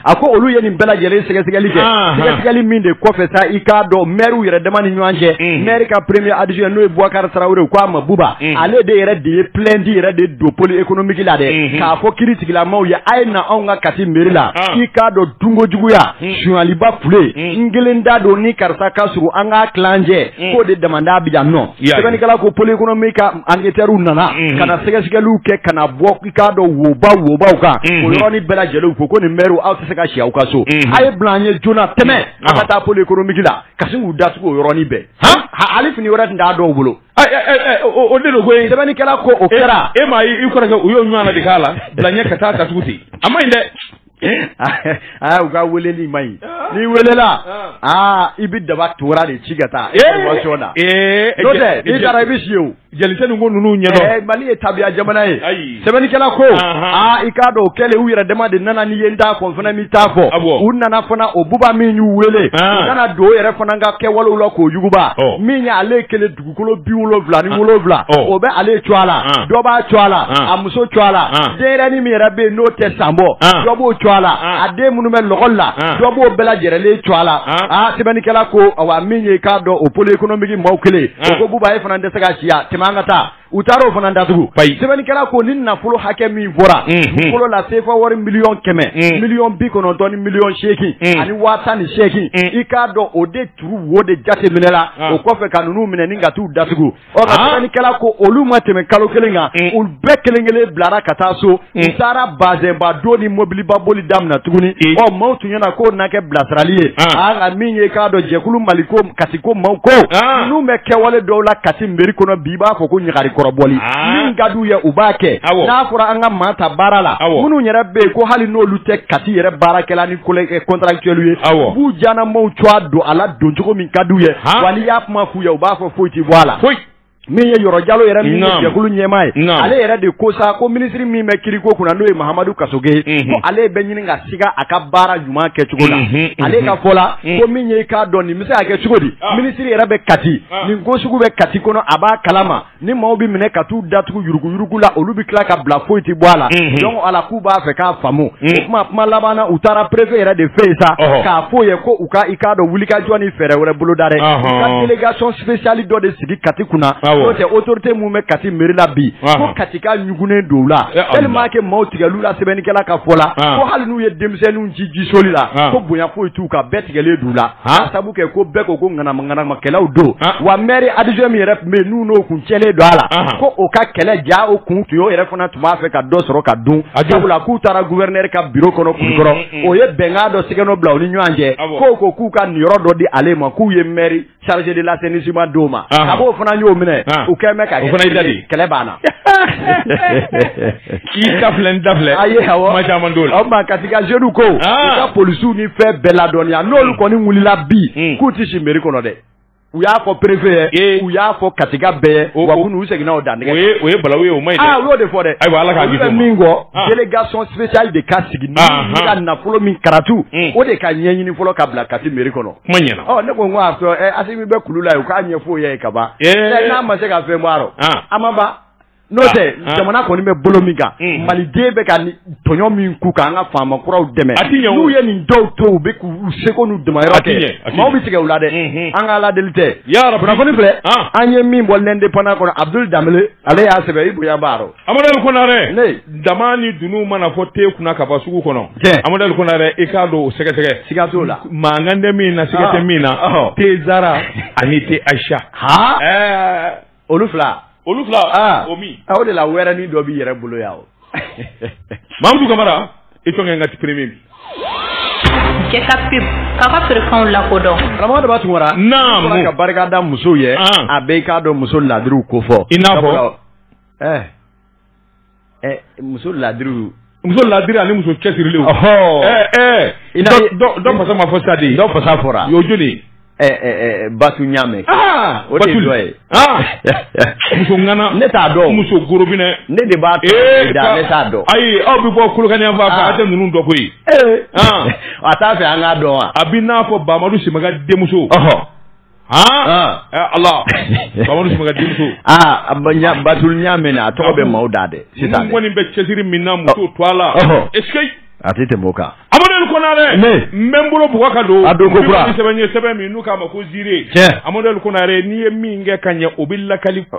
a ko olu ye nin bɛɛ lajɛlen sɛgɛsɛgɛli kɛ sɛgɛsɛgɛli min de kɔfɛ sa i k'a dɔn maires yɛrɛ dama ni ɲɔgɔn cɛ mm. maire ka premier adjoint n'o ye Boubacar Traoré ko a ma buba mm. ale de yɛrɛ de ye plainte yɛrɛ de don pôle économique la dɛ mm-hmm. k'a fɔ kiritigɛlamaw ye a ye na anw ka kati mairie la ah. k'i k'a dɔn dunkojuguya mm. sunyaliba kule n kelen da don ni karisa ka surun an k'a tila an cɛ mm. k'o de damanda bɛ yan nɔ sɛbɛnnikɛla ko pôle économique ka anketɛriw nana mm-hmm. ka na sɛgɛsɛgɛliw kɛ ka na bɔ i k'a dɔn woba wobaw kan mm-hmm. o yɔrɔnin bɛɛ lajɛlen u ko ko nin mɛriw aw tɛ se ka si aw ka so mm-hmm. a ye bila an ɲɛ joona tɛmɛ a ka taa pôle économique la ka sin k'u datugu o yɔrɔnin bɛɛ hali fini wɛrɛ tun t'a dɔw bolo o de don ko ye sɛbɛnnikɛla ko o kɛra e m'a ye i kɔrɔkɛ u y'o ɲɔgɔn na de k'a la bila ɲɛ ka taa datugu ten a ma ɲi dɛ aa u ka weleli ma ɲi n'i welela aa i bɛ daba tora de ci ka taa information na n'o tɛ n'i taara i bɛ si o jɛlisɛn ninnu ko ninnu ɲɛdɔn Mali ye tabiya jamana ye sɛbɛnnikɛla ko aa i k'a dɔn o kɛlen u yɛrɛ dama de nana ni ye n t'a fɔ n fana m'i t'a fɔ u nana fana o buba min y'u wele u nana don o yɛrɛ fana ka kɛwalew la k'o yuguba min y'ale kelen dugukolo bi wolowula ni wolowula o bɛ ale tɔgɔ la dɔ b'a tɔgɔ la a muso tɔgɔ la denyɛrɛnin min yɛrɛ bɛ yen n'o tɛ san bɔ dɔ b'o tɔgɔ la a den minnu bɛ lakɔli la dɔ b'o bɛɛ lajɛlen tɔgɔ la aa sɛbɛnnikɛla ko wa min ye k'a dɔn o pôle économique maaw kelen ko buba ye fana tɛ se ka si tɛmɛ an ka taa u taara o fana datugu ba sɛbɛnnikɛla ko ni nafolo hakɛ min fɔra fɔlɔ la sefa wari miliyɔn kɛmɛ miliyɔn bi kɔnɔntɔn ni miliyɔn seeki ani waa ni seeki i k'a dɔn o de trou wo de jate minɛ la ah. o kɔfɛ ka ninnu minɛ ni ka t'u datugu ɔ ka sɛbɛnnikɛla ah. ko olu ma tɛmɛ kalo kelen kan mm. olu bɛɛ kelen kelen bilara ka taa so mm. u taara bazɛnba don ni mobiliba boli daminɛ tuguni mm. ɔ maaw tun ɲɛna k'o na kɛ bilasirali ye a ah. ka min ye k'a dɔn jɛkulu mali ko kati ko maaw ko ninnu bɛ kɛwale dɔw la kati meri kɔnɔ bi i b'a fɔ ko ɲagari kɔrɔbɔli min ka d'u ye u b'a kɛ n'a fɔra an ka maa ta baara la minnu yɛrɛ bɛ yen ko hali n'olu tɛ kati yɛrɛ baarakɛla ni contractuel ye u b'u diyanamaaw tɔgɔ don a la don cogo min ka di u ye wa n'i y'a kuma f'u ye u b'a fɔ foyi tɛ bɔ a la foyi min ye yɔrɔ jalo yɛrɛ min jɛkulu ɲɛmaa ye ale yɛrɛ de ko sa ko minisiri min bɛ kiriko kunna n'o ye mahamadu kasoge ye ko ale bɛ ɲini ka siga a ka baara ɲuman kɛ cogo la ale ka fɔ la ko min ye i k'a dɔn nin bɛ se ka kɛ cogo di minisiri yɛrɛ bɛ kati nin ko sugu bɛ kati kɔnɔ a b'a kalama ni maaw bɛ minɛ ka t'u datugu yuruguyurugu la olu bɛ tila ka bila foyi tɛ bɔ a la mhm. donc ala k'u b'a fɛ k'a faamu mhm. o kuma kuma laban na u taara préfet yɛrɛ de fɛ yen sa k'a f'o ye ko u ka i k'a dɔn wulikajɔ ni fɛɛrɛ wɛrɛ boloda dɛ u ka délégation spéciale dɔ de sigi Kati kunna n'o tɛ autorité minnu bɛ Kati mairie la bi ko Katikaw ɲugunnen don u la tellement que maaw tigɛl'u la sɛbɛnnikɛla ka fɔ la ko hali n'u ye denmisɛnninw ci jisoli la ko bonya foyi t'u kan bɛɛ tigɛlen don u la a sabu kɛ ko bɛɛ ko ko ŋanamaŋanamakɛlaw don wa maire adjoint min yɛrɛ tun bɛ yen n'o kun cɛlen don a la ko o ka kɛlɛ ja o kun tun o yɛrɛ fana tun b'a fɛ ka dɔ sɔrɔ ka dun a la k'u taara gouverneur ka bureau kɔnɔ Kulikɔrɔ o ye bɛnkan dɔ signé bila u ni ɲɔgɔn cɛ ko ko k'u ka nin yɔrɔ dɔ di ale ma k'u ye maire chargé de l'assainissement d'o ma a b'o fana y'o minɛ o kɛlen kɛlɛ banna K'i ta filɛ n ta filɛ, ayi, awɔ, kuma caman t'o la, o tuma Kati ka jeunes ko, an, u ka policiers ni fɛn bɛɛ ladɔnniya n'olu kɔni wulila bi k'u tɛ si mairie kɔnɔ dɛ, u y'a fɔ préfet ye, u y'a fɔ Katika bɛɛ ye, wa kunu u seginna o dantigɛ kan, o ye o ye balawu ye o man ɲi dɛ, aa u y'o de fɔ dɛ, ayiwa Ala k'a kisi o ma, olu bɛ min kɔ délégation spéciale de ka sigi ni ka nafolo min kɛra trou o de ka ɲɛɲini fɔlɔ ka bila Kati mairie kɔnɔ, kuma ɲɛna, ɔ ne ko n ko a fɔ Asimi bɛ kulu la yen u k'a ɲɛfɔ o y'a ye ka ban, ee, n'a ma se ka fɛn bɔ a rɔ, an ma ban N'o tɛ jamana kɔni bɛ bolo min kan maliden bɛ ka tɔɲɔ min kun k' an ka faama kuraw dɛmɛ n'u ye nin dɔw to u bɛ k'u seko n'u damayira kɛ maaw bɛ tigɛ u la dɛ an k'ala deli tɛ yɔrɔ kunnafoni filɛ an ye min bɔ L'Indépendant kɔnɔ abudul danbele ale y'a sɛbɛn i bonya baara amaduɛli konare dama ni dunun mana fɔ te kunna ka bɔ sugu kɔnɔ amaduɛli konare i k'a don sɛgɛsɛgɛ siga t'o la mankan tɛ min na siga tɛ min na te zara ani te ayisa h olu fila olu fila ah. o min aw de la wɛrɛnin dɔ b'i yɛrɛ bolo yan o mamudu kamara i tɔgɔ n ka te premier bi jɛka pub k'a ka feerefɛnw lakodɔn karamɔgɔ daba tunkara naamu ka barika da musow ye ah. a bɛɛ i k'a dɔn muso ladiriw ko fɔ i n'a fɔ eh. muso laadiri muso laadiri ani muso cɛsirilen dɔ fasa ma fɔ sadi dɔ fasa fɔra y'o jɔni batu ɲamɛ o de dɔ ye muso ŋana ne t'a dɔn muso gorobinɛ ne de b'a da ne t'a dɔn ayi aw bɛ bɔ kolokani yan fan a tɛ ninnu dɔn koyi a t'a fɛ an k'a dɔn wa a bɛ n'a fɔ bamadu simaga denmuso ala batu ɲamɛ a tɔgɔ bɛ maaw da dɛ sisan kɔni bɛ cɛsiri min na muso tɔw la a tɛ tɛmɛ o kan amaduɛli konare n bɛ n bolo bug ka don a don ko sɛbɛn ye sɛbɛn min n'u k'a ma ko Ziré amaduɛli konare n'i ye min kɛ ka ɲɛ o bɛ lakali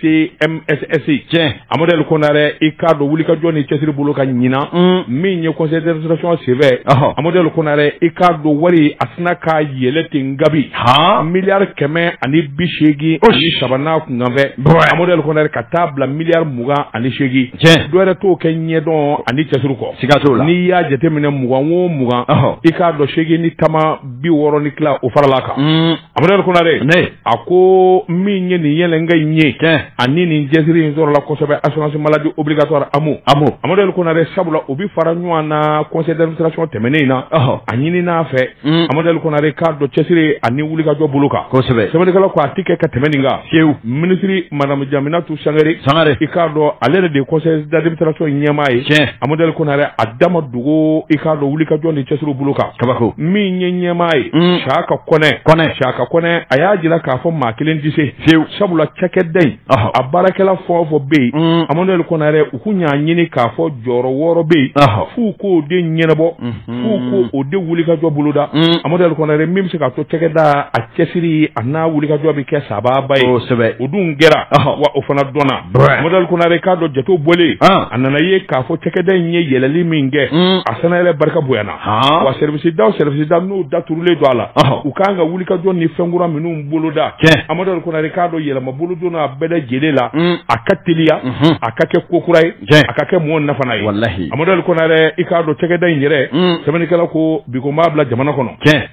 CMSS tiɲɛ amaduɛli konare i k'a dɔn wulikajɔ ni cɛsiri bolo kan ɲinan mm. min ye conseil d'administration senfɛ amaduɛli konare i k'a dɔn wari a sina ka yɛlɛn ten kabi miliyari kɛmɛ ani bi seegin ani saba n'a kunkanfɛn amaduɛli konare ka taa bila miliyari mugan ani seegin tiɲɛ dɔ wɛrɛ t'o kɛ ɲɛdɔn ani cɛsiri kɔ siga t'o la n'i y'a jateminɛ mugan o mugan i k'a dɔn seegin ni tama bi wɔɔrɔ ni fila o faral'a kan mm. Amaduɛli Konare a ko min ye nin yɛlɛnko in ye tiɲɛ ani nin cɛsiri in sɔrɔla kosɛbɛ assurance maladie obligatoire AMO AMO Amaduɛli Konare sabula u bɛ fara ɲɔgɔn na conseil d'administration tɛmɛnen in na ɔhɔ a ɲinina a fɛ un Amaduɛli Konare k'a dɔn cɛsiri ani wulikajɔ bolo kan kosɛbɛ sɛbɛnnikɛlaw ko a tɛ kɛ ka tɛmɛ nin kan fiyewu minisiri madame Jaminatu Sangare Sangare i k'a dɔn ale yɛrɛ de ye conseil d'administration ɲɛmaa ye tiɲɛ Amaduɛli Konare a da ma don ko i k'a dɔn wulikajɔ ni cɛsiri bolo kan kabako min ye ɲɛmaa ye mm. isaka kɔnɛ kɔnɛ isaka kɔnɛ a y'a jira k'a fɔ maa kelen tɛ se fiyewu sabula cakɛda in a baarakɛla fɛn o fɛn bɛ yen mm. amaduɛli konare u tun y'a ɲini k'a fɔ jɔyɔrɔ wɔɔrɔ bɛ yen f'u k'o de ɲɛnabɔ mm-hmm. f'u k'o o de wulikajɔ boloda mm. amaduɛli konare min bɛ se k'a to cakɛda a cɛsiri a n'a wulikajɔ bɛ kɛ sababu ye o dun kɛra wa o fana dɔnna amadu ɛl konare i k'a dɔn jatew bɔlen a nana ye k'a fɔ cakɛda in ye yɛlɛli min kɛ mm. a sannayɛlɛ barika bonyana wa sɛriwisidaw sɛriwisida n'u daturulen don a la u ka kan ka wulikajɔ ni fɛn kura minnu boloda amadu ɛl konare i k'a dɔn yɛlɛma bolodon a bɛɛ lajɛlen la mm. a ka teliya mm-hmm. a ka kɛ ko kura ye a ka kɛ mɔgɔ nafana ye amadu ɛl konare i k'a dɔn cakɛda in yɛrɛ mm. sɛbɛnnikɛla ko biko n b'a bila jamana kɔnɔ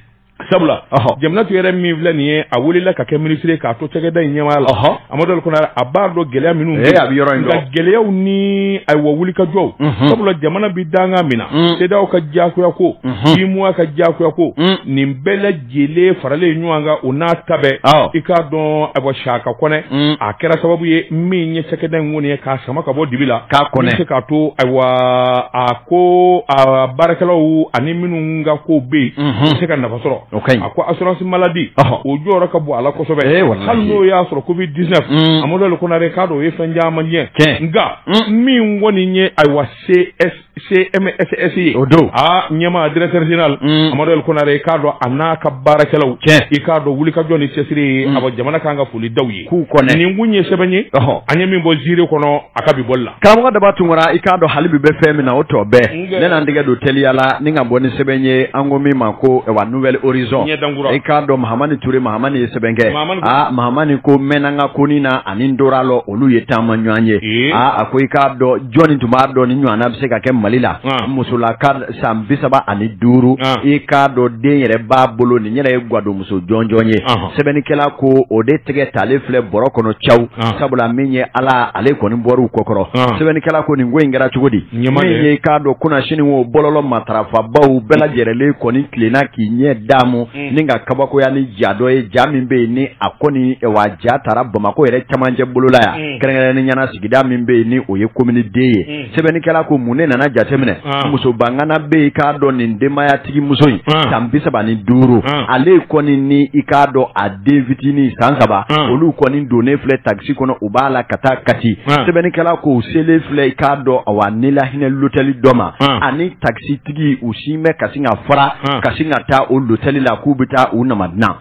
sabula jeminatu yɛrɛ min filɛ nin ye a wulila ka kɛ minisiri k'a to cakɛda in ɲɛmaaya la amadu ɛl konare a b'a dɔn gɛlɛya minnu eh, bɛ yɔrɔ in kan gɛlɛyaw ni ayiwa wulikajɔw mhm. sabula jamana bɛ danga min na mm. CEDEAO ka diyagoya ko mhm. UEMOA ka diyagoya ko mm. nin bɛɛ lajɛlen faralen ɲɔgɔn kan o n'a ta bɛɛ i k'a dɔn ayiwa saka kɔnɛ mm. a kɛra sababu ye min ye cakɛda in kɔni ye k'a sama ka bɔ dibi la k'a kɔnɛ se k'a to ayiwa a ko a baarakɛlaw ani minnu ka ko bɛ yen u bɛ se ka nafa sɔrɔ a ko assurance maladie o jɔyɔrɔ ka bon a la kosɛbɛ eh, hali n'o y'a sɔrɔ covid 19 mm. amadu ɛl konare i k'a dɔn o ye fɛn caman cɛn nka mm. min kɔni ye ayiwa CS CMSS ye o don a ɲɛmaa directeur général mm. amadu ɛl konare i k'a dɔn a n'a ka baarakɛlaw i k'a dɔn wulikajɔ ni cɛsiri ye a jamana ka kan ka foli da u ye k'u kɔnɛ nin tun ye sɛbɛn ye an ye min bɔ zire kɔnɔ a ka bi bɔli la karamɔgɔ daba tunkara i k'a dɔn hali bi bɛ fɛn min na o tɔ bɛɛ ne na n tɛgɛ don teliya la ne na bɔ ni sɛbɛn ye an ko min ma ko wa nouvel horizon i k'a dɔn mahamani ture mahamani ye sɛbɛn kɛ aa mahamani ko mɛnna ka koni na ani n dora lɔ olu ye taamaɲɔgɔn ye aa a ko i k'a dɔn jɔnni tun b'a dɔn nin ɲɔgɔnna bɛ se ka kɛ mali la musola san bi saba ani duuru ah. i k'a dɔn den yɛrɛ b'a bolo nin yɛrɛ ye gwadonmuso jɔnjɔn ye ah. sɛbɛnnikɛla ko o de tɛgɛ talen filɛ bɔrɔ kɔnɔ caw ah. sabula min ye ala ale kɔni bɔr'u kɔkɔrɔ sɛbɛnnikɛla ko nin ko in kɛra cogo di min ye k'a dɔn kunasini o bɔlɔlɔ matarafabaw bɛɛ lajɛrɛlen kɔni tilenna k'i ɲɛ damu hmm. ni ka kabakoya ni ja dɔ ye ja min bɛ yen ni a kɔni wa ja tara bamako yɛrɛ camancɛ bolola yan hmm. kɛrɛnkɛrɛnnenya na sigida min bɛ yen ni o ye commune deux ye hmm. sɛbɛnnikɛla ko mun ne nana jateminɛ ah. muso bangana bɛ yen i k'a dɔn nin denbayatigi muso in ah. san bi saba ni duuru ah. ale kɔni ni i k'a dɔn a den fitinin san saba olu kɔni donnen filɛ takisi kɔnɔ u b'a la ka taa kati sɛbɛnnikɛla ko u selen filɛ i k'a dɔn awa nilahinɛ lotɛli dɔ ma ani takisitigi u sin bɛ ka sin ka fara ka sin ka taa o lotɛli la k'u bɛ taa u nama dilan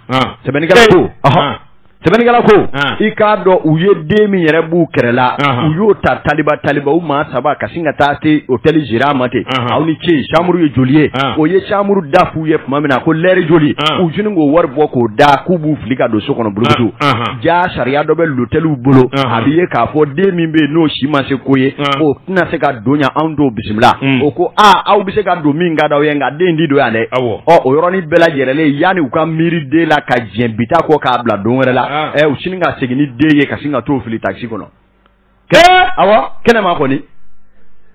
sɛbɛnnikɛla ko Sɛbɛnnikɛla ko, an, i k'a dɔn u ye den min yɛrɛ b'u kɛrɛ la, anhan, u y'o ta taliba taliba u maa saba ka sin ka taa se hôtel gérant ma ten, anhan, aw ni ce chambre ye joli ye, an, o ye chambre da f'u ye tuma min na ko l'heure joli, an, u girin k'o wari bɔ k'o da k'u b'u fili ka don so kɔnɔ burukutu, an, anhan, jaa sariya dɔ bɛ lotɛliw bolo, anhan, a bɛ ye k'a fɔ den min bɛ yen n'o si ma se ko ye, an, o tɛna se ka don yan anw t'o bisimila, un, o ko aa aw bɛ se ka don min ka d'aw ye nka den in tɛ don yan dɛ, awɔ, ɔ o yɔrɔnin bɛɛ lajɛlen yani u ka miiri den la ka diɲɛ bi ta kɔ k'a bila don wɛrɛ la ah. ɛ u sini ka segin ni den ye ka sin ka t'o fili takisi kɔnɔ kɛ awɔ kɛnɛma kɔni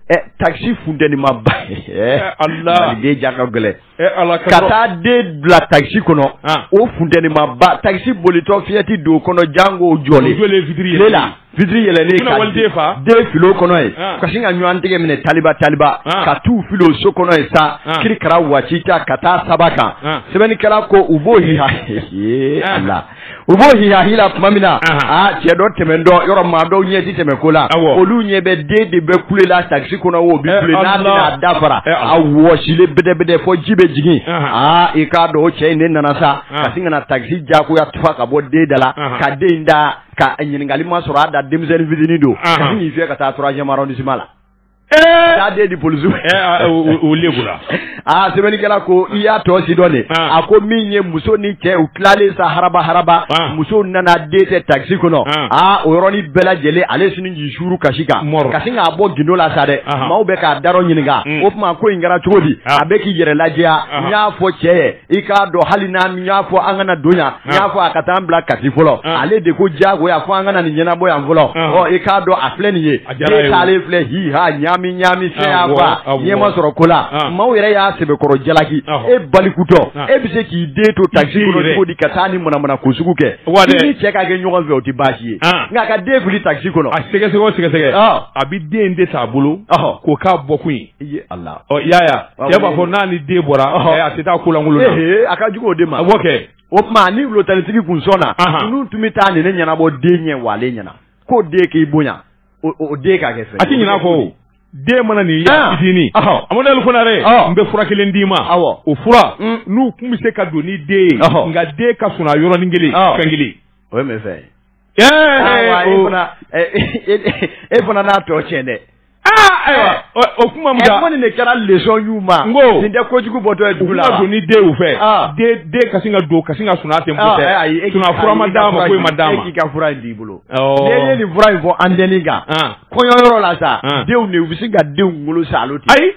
ɛ takisi funtenimanba ala den ja ka gɛlɛn ka taa den bila takisi kɔnɔ ah. o funtenimanba takisi bolitɔ fiyɛ tɛ don kɔnɔ janko jɔlen tile la Vitiri yɛlɛlen ka waliden fa, ka den fili o kɔnɔ yen, an, ka sin ka ɲɔgɔn tɛgɛ minɛ taliba taliba, an, ka t'u fili o so kɔnɔ yen sa, an, kirikara waati ta ka taa saba kan, an, sɛbɛnnikɛla ko u b'o hiha ee ah. Ala u b'o hiha hila tuma min na, anhan, aa cɛ dɔ tɛmɛntɔ yɔrɔ maa dɔw ɲɛ tɛ tɛmɛn ko la, awɔ, olu ɲɛ bɛ den de bɛ kule la takisi kɔnɔ o bɛ kule n'a bɛna dafara eh, a wɔsilen bɛdɛbɛdɛ fɔ ji bɛ jigin, anhan, aa i k'a dɔn o cɛ in de nana sa, an, ka sin ka na takisi diyagoya tufa ka bɔ den da la, anhan, ka den in ta ka ɲininkali ma sɔrɔ a da denmisɛnnin fitini don ka sin k'i fiyɛ ka taa troisième arrondissement la taa den di polisi la aa sɛbɛnnikɛla ko i y'a tɔ si dɔn de a ko min ye muso ni cɛ u tilalen sa haraba haraba muso nana den tɛ takisi kɔnɔ aa o yɔrɔnin bɛɛ lajɛlen ale sini k'i suuru kasi kan kasi k'a bɔ gindo la sa dɛ maaw bɛ k'a da ɲininka o tuma ko in kɛra cogo di a bɛ k'i yɛrɛ lajɛya n y'a fɔ cɛ ye i k'a dɔn hali n y'a fɔ an kana don yan n y'a fɔ a ka taa an bila kati fɔlɔ ale de ko jagoya fɔ an ka na nin ɲɛnabɔ yan fɔlɔ ɔ i k'a dɔn a filɛ nin ye ne taalen filɛ hi ha ɲaami ɲaami fɛn fa ɲɛ ma sɔrɔ ko la maaw yɛrɛ y'a sɛbɛkɔrɔ jalaki e balikutɔ e bɛ se k'i den to takisi kɔnɔ cogo di ka taa nin manamanako sugu kɛ i ni cɛ ka kɛ ɲɔgɔn fɛ o tɛ baasi ye nka ka den fili takisi kɔnɔ a sɛgɛsɛgɛ o sɛgɛsɛgɛ a bɛ den de t'a bolo k'o k'a bɔkun ye I Ala ɔ y'a cɛ b'a fɔ n'a ni den bɔra a tɛ taa kulankolon a ka jugu o de ma a kɛ o tuma ni lotɛlitigi kun sɔnna olu tun bɛ taa nin ne ɲɛnabɔ den ɲɛ wa ɲɛna ko den k'i bonya o den k'a kɛ fɛ a tɛ ɲɛna ko den mana nin ye fitinin amadu fana n bɛ fura kelen d'i ma o fura mm. n'u tun bɛ se ka don ni den ye nka den ka sunaa yɔrɔnin kelen fɛn kelen o ye fɛ e fana n'a tɔ tiɲɛ dɛ O kuma nin de kɛra leçon ɲuman ko nin tɛ ko kojugu bɔ dɔn dugu la don ni denw fɛ ka ka don ka sun tɛ ma d'a ma ma d'a ma k'i ka fura in b'i bolo ye nin fura in fɔ an delieli kan kɔɲɔ yɔrɔ la sa denw de u bɛ se ka denw wolo sa ayi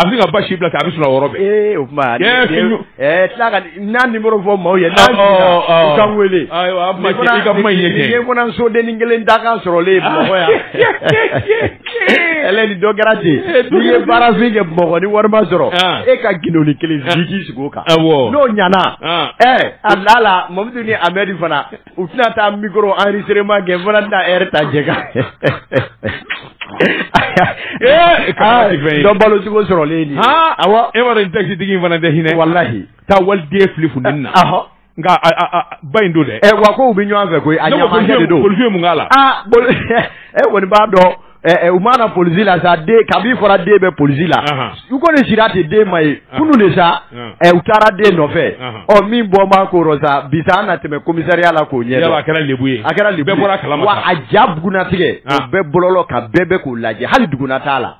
A bɛ ka basi bila a bɛ sɔrɔ yɔrɔ ee o tuma n'an numéro fɔ maaw ye k'an weele ka soden kelen da kan sɔrɔlen bamakɔ yan ni dɔ kɛra ten n'i ye baarafin kɛ bamakɔ ni wari ma sɔrɔ e ka gdoni kelen sigi kan n'o ɲana a la la mamadu ni a bɛ fana u tɛna taa mikɔrɔ enregistrement kɛ fo taa ta jɛ kan dɔn balo cogo sɔrɔlen aw e in takisitigi in fana tɛ hinɛ walahi taa waliden fili fun na nka ba in don dɛ wa ko bɛ ɲɔgɔn fɛ ko a ɲɛ de don bolo mun la kɔni b'a dɔn Ɛ u mana polisi la sa ka fɔra den bɛ polisi la u ko nin sira tɛ den ma ye kunun de sa u taara den nɔfɛ ɔ min bɔ ma ko sa bi an na tɛmɛ komisariya la k'o ɲɛ a kɛra ye a kɛra a ja bɛna tigɛ a bɛɛ bɔlɔ ka bɛɛ bɛ k'u lajɛ hali duguna t'a la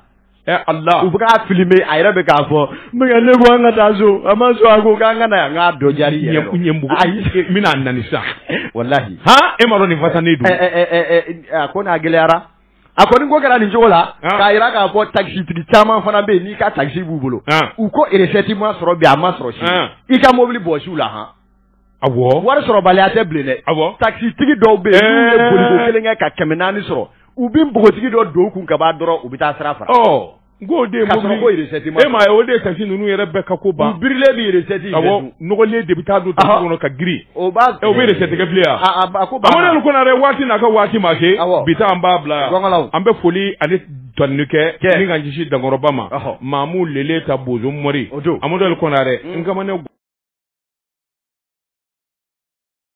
u bɛ k'a filɛ a yɛrɛ bɛ k'a fɔ ne ko an ka taa so a ma sɔn a ko k'an ka na yan dɔ jari ɲɛbugu n bɛna na sa walahi e ma dɔn nin fa ne don a ko n'a gɛlɛyara a kɔni ko kɛra nin cogo la k'a jira k'a fɔ takisitigi caman fana bɛ yen n'i ka takisi b'u bolo u ko resɛti ma sɔrɔ bi a ma sɔrɔ sini i ka mobili bɔsi u la hɔn wari sɔrɔbaliya tɛ bilen dɛ takisitigi dɔw bɛ yen kelen kɛ ka kɛmɛ naani sɔrɔ u bɛ npogotigi dɔ don kun ka b'a dɔrɔn u bɛ taa sira fara N ko o de ye mobili, k'a sɔrɔ ko recette ma sɔrɔ, e m'a ye o de ye taxi ninnu yɛrɛ bɛɛ ka ko ban, u birilen bɛ recette in bɛɛ dun, awɔ, nɔgɔlen de bɛ taa don taxi kɔnɔ ka girin, o b'a, o bɛ recette kɛ bilen wa, a a ko banna, Amadu Ali Kɔnare waati n'a ka waati ma se, awɔ, bi ta an b'a bila yan, gɔngɔlaw, an bɛ foli ani tanuni kɛ, kɛ, ni ka ɲɛsin dankɔrɔba ma, ɔhɔ, Mamu Lele ta Bozo Mɔri, o don, Amadu Ali Kɔnare, Nkamane